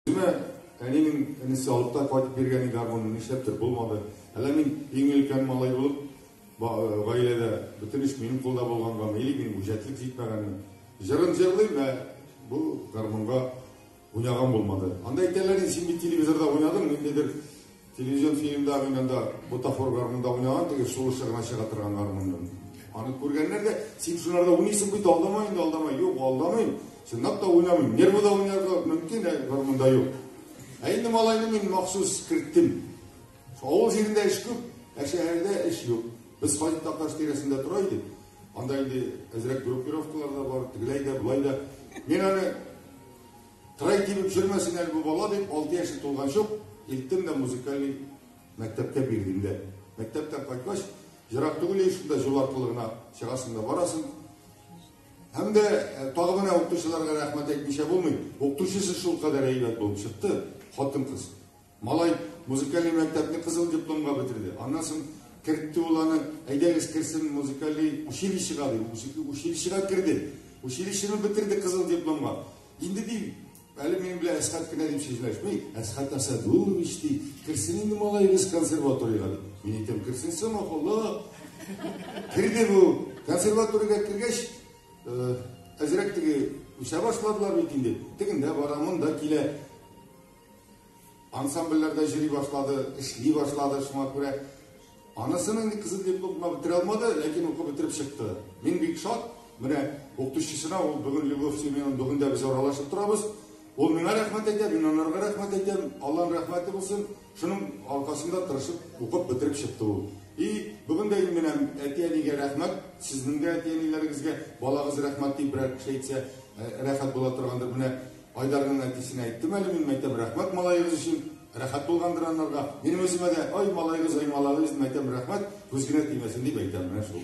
Менә әнинең энесе алып та кайтып биргән иде гармунны, нишләптер булмады. Әллә мин иң өлкән малай булып э, гаиләдә бөтен эш минем кулда булганга, или минем үҗәтлек җитмәгәнме? Җырын җырлыйм, ә бу гармунга уйнаган булмады. Анда әйтәләр, син бит телевизорда уйнадың, ниндидер Телевизион фильмда гына да бутафор гармунда уйнаган теге сулышы гына чыга торган гармундан. Аны күргәннәр дә, син шуларда уйныйсың бит, алдама инде, алдама. Юк, алдамыйм. Чынлап та уйнамыйм. Нервыда уйнарга мөмкин, ә гармунда юк. Ә инде малайны мин махсус керттем. Авыл җирендә эш күп, ә шәһәрдә эш юк. Без Хаҗи Такташ тирәсендә тора идек. Анда инде әзрәк группировкалар да бар, тегеләй дә, болай да. Мин аны Трай тибеп җөрмәсен әле бу бала, дип, алты яше тулганчы ук илттем дә музыкальный мәктәпкә бирдем дә. Мәктәптән кайткач, ерак түгел ич шунда җул аркылы гына чыгасың да барасың. Һәм дә э, тагы менә укытучыларга рәхмәт әйтмичә булмый. Укытучысы шулкадәр әйбәт булып чыкты, хатын-кыз. Малай музыкалий мәктәпне кызыл дипломга бетерде. Аннан соң кертте ул аны, әйдәгез керсен музыкалий училищега дип, училищега керде. Училищены бетерде кызыл дипломга. Инде ди, әле минем белән Әсхат кенә дип сүзләшми, Әсхат Асадулович ди, керсен инде малаегыз консерваториягә дип. Мин әйтәм, керсен сама, Алла. Керде бу. Консерваториягә кергәч, әзрәк теге үсә башладылар бит инде. Тегендә бара, монда килә. Ансамбльләр дә җыри башлады, эшли башлады, шуңа күрә анысының ни кызы дип укма бетерә алмады, ләкин укып бетереп чыкты. Мин бик шат, менә укытучысына ул бүген Любовь Семеновна бүген дә без аралашып торабыз. Ул миңа рәхмәт әйтә, мин анарга рәхмәт әйтәм. Алланың рәхмәте булсын. Шуның аркасында тырышып укып бетереп чыкты ул. И, бүген дә мин менәм әти-әнигә рәхмәт, сезнең дә әти-әниләрегезгә балагыз рәхмәт дип берәр кеше әйтсә, рәхәт була торгандыр. Менә Айдарның әтисенә әйттем әле мин, мәйтәм, рәхмәт малаегыз өчен, рәхәт булгандыр анарга. Минем үземә дә, ай, малаегыз, ай, малаегыз, мәйтәм, рәхмәт, күз генә тимәсен дип әйтәм, менә шул.